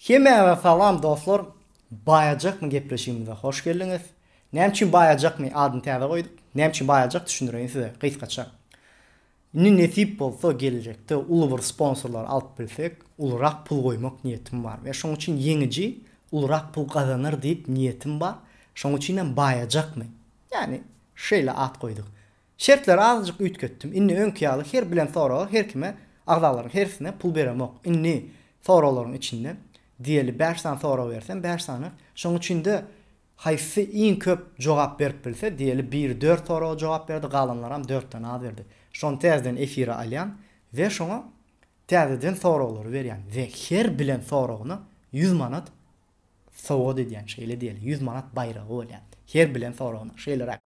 Hemmäňize salam dostlar Baýajakmy gepleşigimize hoş geldiňiz. Näme üçin Baýajakmy adyny täze goýduk? Näme üçin Baýajak düşündireýin size gysgaça. Indi nesip bolsa geljekde uly bir sponsorlar alyp bilsek ulurak pul goýmak niýetim bar we şoň üçin ýeňiji ulurak pul gazanar diýip niýetim bar. Şoň üçinem Baýajakmy? Ýagny şeýle at goýduk. Şertleri azajyk üýtgetdim. Indi öňki ýaly her bilen soraga her kime, agzalaryň hersine pul beremok. Indi soraglaryň içinde, diýeli bäş sany sorag bersem, bäş sany, şoň üçin-de haýsy iň köp jogap berip bilse, diýeli biri dört soraga jogap berdi, galanlaram dörtden az berdi. Şony täzeden efire alýan we şoňa täzeden soraglary berýän we her bilen soragyna ýüz manat Sowgat edýän, şeýle diýeli, ýüz manat baýragy bolýar. Her bilen soragyna, şeýleräk.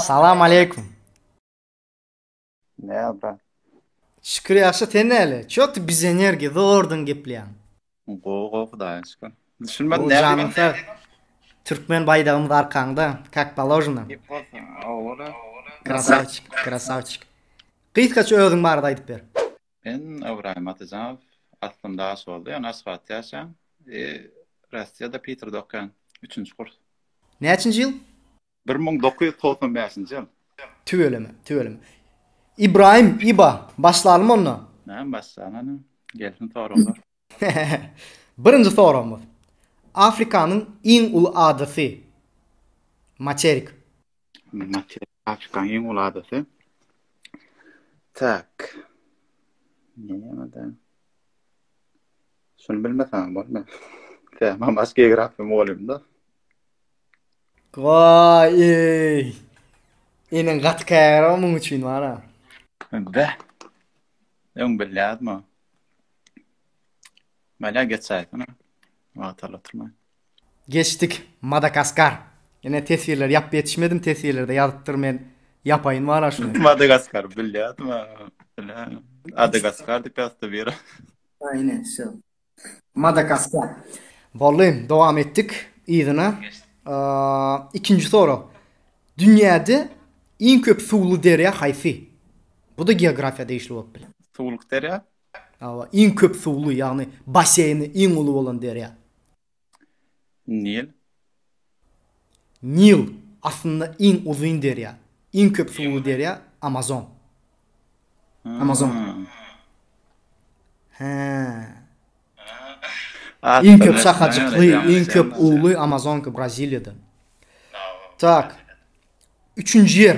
Salam aleýkum. Näme brat? Şükür ýagşy, sen näle? Ço ty biz energiýa zordan gepleýäň. Gowy gowy Hudaýa şükür. Düşünmedim näme diýýän. Janyň sag. Türkmen baýdagymyz arkaňda, kak paložno. Krasawçik, krasawçik. Gysgaça özüň barada aýdyp ber. Men Ybraýym Atyjanow, aslym daş boldy, ýöne Aşgabatda ýaşaýan, e, Rossiýada Piterde okaýan, üçünji kurs. Näçinji ýyl? Bir müň dokuz ýüz togsan bäşinji ýyl. Tüweleme, tüweleme. Ybraýym, Iba, başlalymy onda? Näme başlalyň, ine, gelsin soraglar. Birinji soragymyz. Afrikanyň iň uly adasy. Materik. Materik. Afrikanyň iň uly adasy. Tak. Näme-de? Şuny bilmeseň bolma. Sen mam aşk geografiýa mugallymda. Goý. Iniň gaty kära muň üçin wara. Beh. Öň bilýärdim. Mala geçäýsene. Wagtal oturma. Geçdik. Madagaskar. Ine teswirleri ýapyp ýetişmedim teswirlerde ýazypdyr men ýapaýyn wara şuny. Madagaskar bilýärdim ha. Bilä. Adagaskar diýip ýazypdy biri. Aýne şo. Madagaskar. Boldy. Dowam etdik yzyna. Ikinji sorag. Dünýäde iň köp suwly derýa haýsy? Bu-da geografiýa degişli bolup biler. Suwluk derýa. Hawa, iň köp suwly, ýagny basseýni iň uly bolan derýa. Nil. Nil, aslynda iň uzyn derýa. Iň köp suwly derýa, Amazon. Amazon. Hä. Iň köp şahajykly, iň köp uly Amazonka Braziliýada. Tak. Üçünji ýer.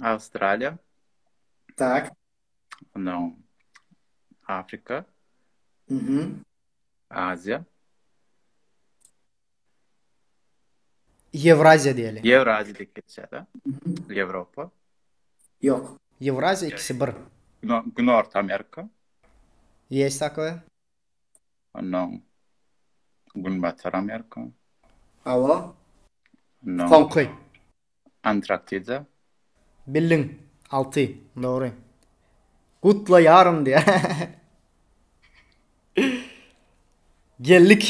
Awstraliýa. Tak. Ondan Afrika. Mhm. Aziýa. Ýewraziýa diýeli. Ýewraziýa diýip geçýär-de. Ýewropa. Ýok. Ýewraziýa ikisi bir. Günorta Amerika. Ýeş takwe. Ondan Günbatar Amerika. Hawa. Ondan. Soňky. Antraktida. Bildiň. Alty. Dogry. Gutlaýaryn diýýär. Geldik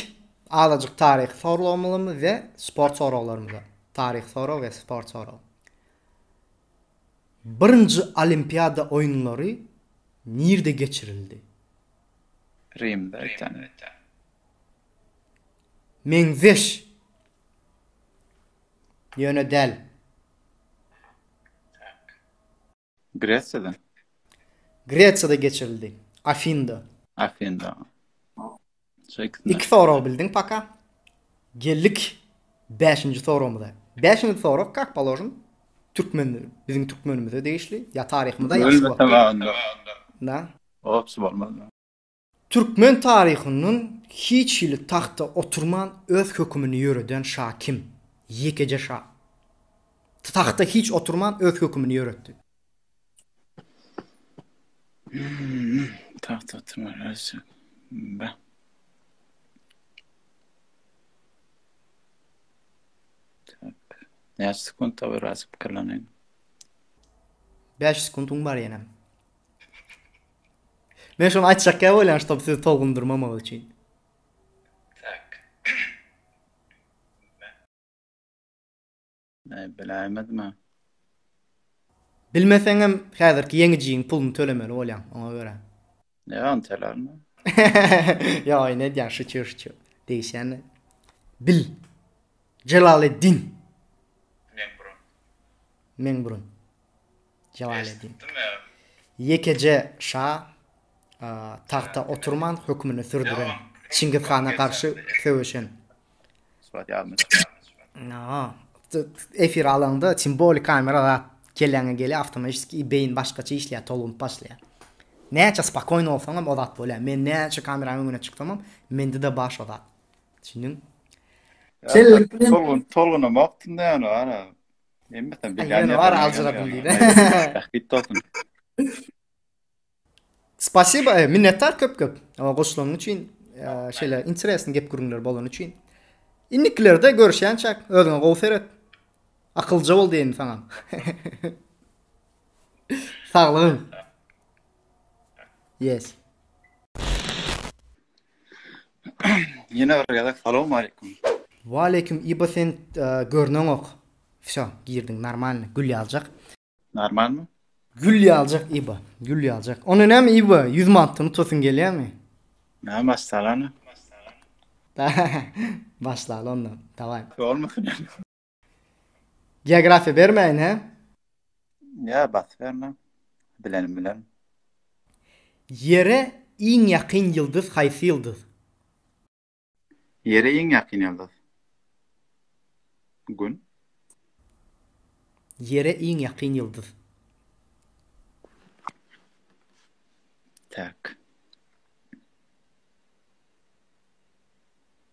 azajyk taryhy soraglarymyza we sport soraglarymyza. Taryhy sorag we sport sorag. Birinji Olimpiada oýunlary nirde geçirildi? Rimde öten. Meňzeş. Ýöne däl. Gresiýadan. Gresiýada geçirildi. Afinda. Afinda. Iki sorag bildiň paka. Geldik bäşinji soragymyza. Bäşinji sorag kak položim türkmen biziň türkmenimize degişli ýa taryhymyza ýa. Ölmese wagtynda. Na. Ops bolmaz. Türkmen taryhyndan hiç hili tagta oturman öz hökümini ýöreden şa kim? Ýekeje şa. Tagta hiç oturman öz hökümini ýöretdi. Tagta oturman öz hökümini Näçe sekunt bar? Biraz pikirleneliň. Bäş sekuntyň bar ýenem. Men şony aýtjak ýaly bolýan, ştob sizi tolgundyrmamak üçin. Tak. Näme biläýmedimi? Bilmeseňem häzirki ýeňijiň puluny tölemeli bolýaň, oňa görä. Ýa ony tölärin. Ýa oýun edýän şu çür şu. Degişýän. Bil. Jelaleddin. Men burun. Men burun. Jebal edin. Ýekeje şa tagta oturman hökmüni sürdüren, Çingiz hana garşy söweşen. Surat ýazmyş. Aa. Efir alaňda simboli kamera zat kelläňe gelýär awtomaşiski beýin başgaça işleýär tolunyp başlaýar. Näçe spakoýny bolsaňam o zat bolýar. Men näçe kameranyň öňüne çyksamam mende de baş o zat. Düşündiň? Tolgun tolgun wagtynda ýaly bar. Emma sen bir ýan ýa aljyrak diýdi. Bit olsun. Spasibo, e, minnetdar köp köp. Ama goşlaryň üçin, e, şeýle interesni gep gürünler bolan üçin. Indikilerde görüşýänçäk, özüňe gowy seret. Akylja bol diýen saňa. Saglygyň. Yes. Ýene bir gezek salam aleýkum. Waleýkim ibo sen görneňok. Vsyo girdiň normalny gül ýaljak. Normalmy? Gül ýaljak ibo gül ýaljak. Onda näme ibo 100 manatdan utasyň gelýärmi? Näme başsalany? Başlaly onda. Daway. Bolmasyn. Geografiýa bermäýin hä? Ýa basyp berme. Bilenim bilerin. Ýere iň ýakyn ýyldyz haýsy ýyldyz? Ýere iň ýakyn ýyldyz. Gün. Ýere iň ýakyn ýyldyz. Tak.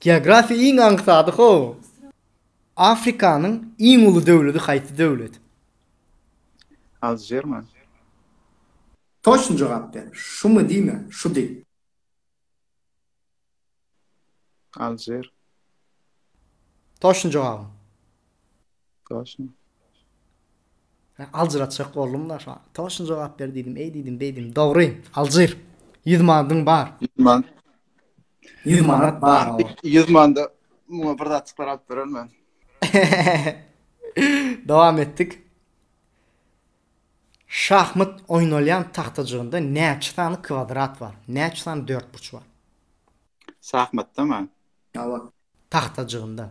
Geografiýa iň aňsady how. Afrikanyň iň uly döwledi haýsy döwlet? Alžir mi? Toçny jogap ber. Şumy diýme, şu diý. Alžir. Toçny jogabyň. Toşun. Men aljyratjak boldum-da şo. Toşun jogap ber diýdim, eý diýdim, beýdim. Dogry, aljyr. 100 manadyň bar. 100 man. 100 manat bar. 100 manda muňa bir zat çykaryp beren men. Dowam etdik. Şahmat oýnalýan tagtajygynda näçe sany kwadrat bar? Näçe sany dörtburç bar? Şahmatda mı? Ýa bak. Tagtajygynda.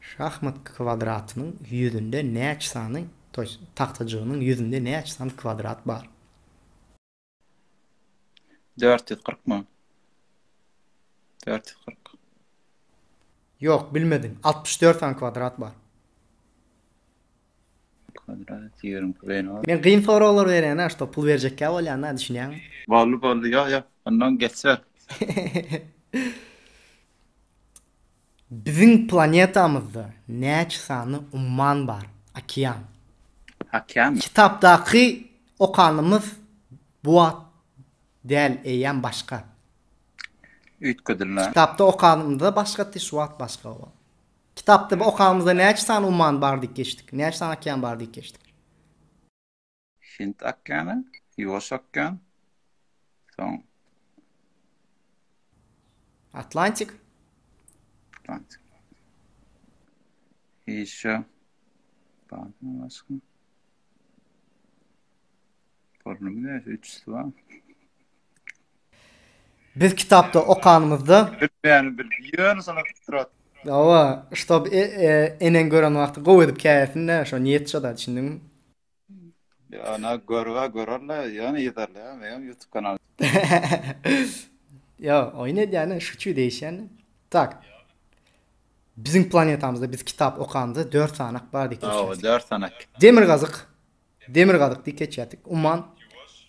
Şahmat kwadratynyň ýüzünde näçe sany, to ýest tagtajygynyň ýüzünde näçe sany kwadrat bar? Dört ýüz kyrkmy? Dört ýüz kyrk. Ýok, bilmediň. Altmyş dört sany kwadrat bar. Kwadrat ýeriň püleýini al. Men gyn soraglar berýän a şto pul berjekkä bolýan a düşünýäňmi. Boldy boldy ýa ýa ondan geçer. Biziň planetamyzda näçe sany umman bar, okean? Okean. Kitapdaky okanymyz bu at däl eýýäm başga. Üýtgedildi. Kitapda okanymyzda başga ty şu at başga. Kitapda bu okamyzda näçe sany umman bar diýip geçdik. Näçe sany okean bar diýip geçdik. Hind okeany, Ýuwaş okean, soň Atlantik. Atlantik. Ýeşe. Barmy başga? Pornomy näçe üçüsi bar? Biz kitapda okanymyzda Bilmeýän bil. Ýöne sana turat. Hawa, ştob e, e, eneň gören wagty gowy edip käýersin-dä, şo niýet şo-da, düşündiňmi? Ýöne görübe görerle, ýöne ýederle, meňem YouTube kanal. Ýo, oýun edýän-ä, şuçu degişýän. Tak. Biziň planetamyzda biz kitap okanymyzda dört sanak bardy Hawa, dört sanak. Demirgazyk. Demirgazyk, Dikeçýatik, Umman,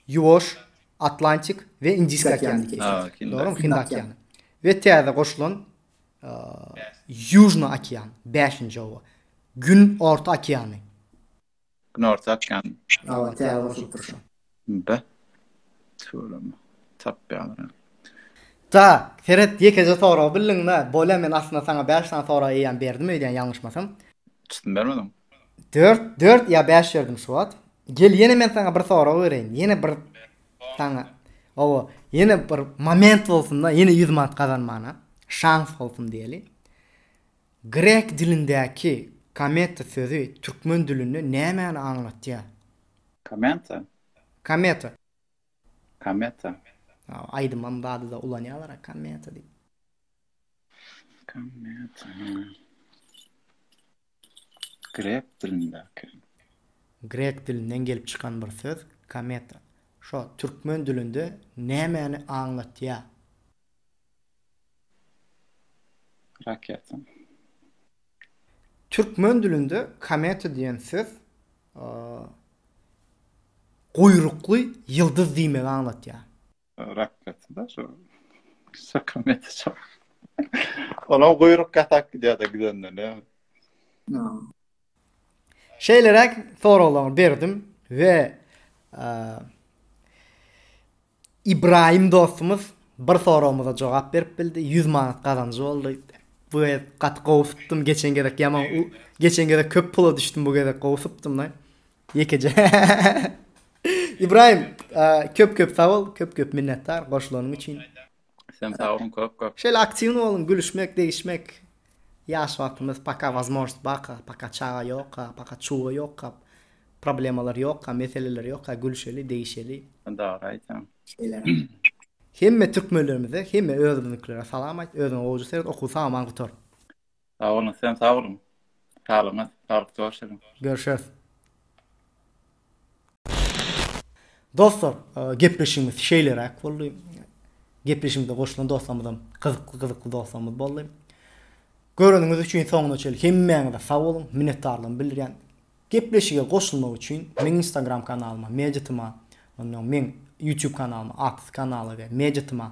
Ýuwaş, Atlantik we Indiski okean dikeçýatygy, dogrumy, Hind okeany we täze goşulan Ýužny okean, bäşinji oba, Gün orta okeany. Gün orta okeany. Hawa, täze goşulypdyr şu. Be. Tüweleme. Tapýaryn. Tak, seret, ýekeje soragy bildiň-dä. Bolýa, men aslynda saňa bäş sany sorag eýýäm berdim öýdýän, ýalňyşmasam. Çytym bermediň? Dört, dört ýa bäş ýördim şu wagt. Gel ýene men saňa bir sorag bereýin. Ýene bir saňa owa, ýene bir moment bolsun-da, ýene ýüz manat gazanmana şans bolsun diýeli. Grek dilindäki kometa sözi türkmen dilinde nämäni aňlatýar? Komenta. Kometa. Kometa. Hawa, aýdymam bady-da ulanýarlar-a kometa diýip. Kometa. Grek dilindäki. Grek dilinden gelip çykan bir söz kometa. Şo türkmen dilinde nämäni aňlatýar? Raketa. Türkmen dilinde kometa diýen söz guýrukly ýyldyz diýmegi aňlatýar. Rakgaty da şu. Sakamete çal. Ona guyruk katak gidiyor da gidenden ne? Şeylerek soraglarını berdim ve e, İbrahim dostumuz bir soragymyza cevap berip bildi. 100 manat kazancı oldu. Bu gezek gat gowy tutdum. Geçen gezek yaman geçen gezek köp pula düşdüm bu gezek gowy tutdum da. Ýekeje. Ybraýym, köp köp sag bol, köp köp minnetdar goşulanyň üçin. Sen sag bol köp köp. Şeýle aktiwny boluň, gülüşmek, degişmek. Ýaş wagtymyz paka wazmožnost barka, paka çaga ýokka, paka çuga ýokka, problemalar ýokka, meseleler ýokka, gülüşeli, degişeli. Dogry aýtýaň. Hemme türkmenlerimize, hemme özümiziňkilere salam aýt, özüňe gowja seret, okuw tamam gutar. Sag boluň, sizem sag boluň. Saglygyňyz, saglyk görşeliň. Görşeris. Dostlar, gepleşigimiz şeýleräk boldy. Gepleşigimize goşulan dostlarymyzam gyzykly-gyzykly dostlarymyz boldy. Göreniňiz üçin soňuna çenli hemmäňize sag boluň, minnetdarlygymy bildirýän. Gepleşige goşulmak üçin meň Instagram kanalyma, Mediatyma, onnoň meň YouTube kanalyma, Atys kanala we Mediatyma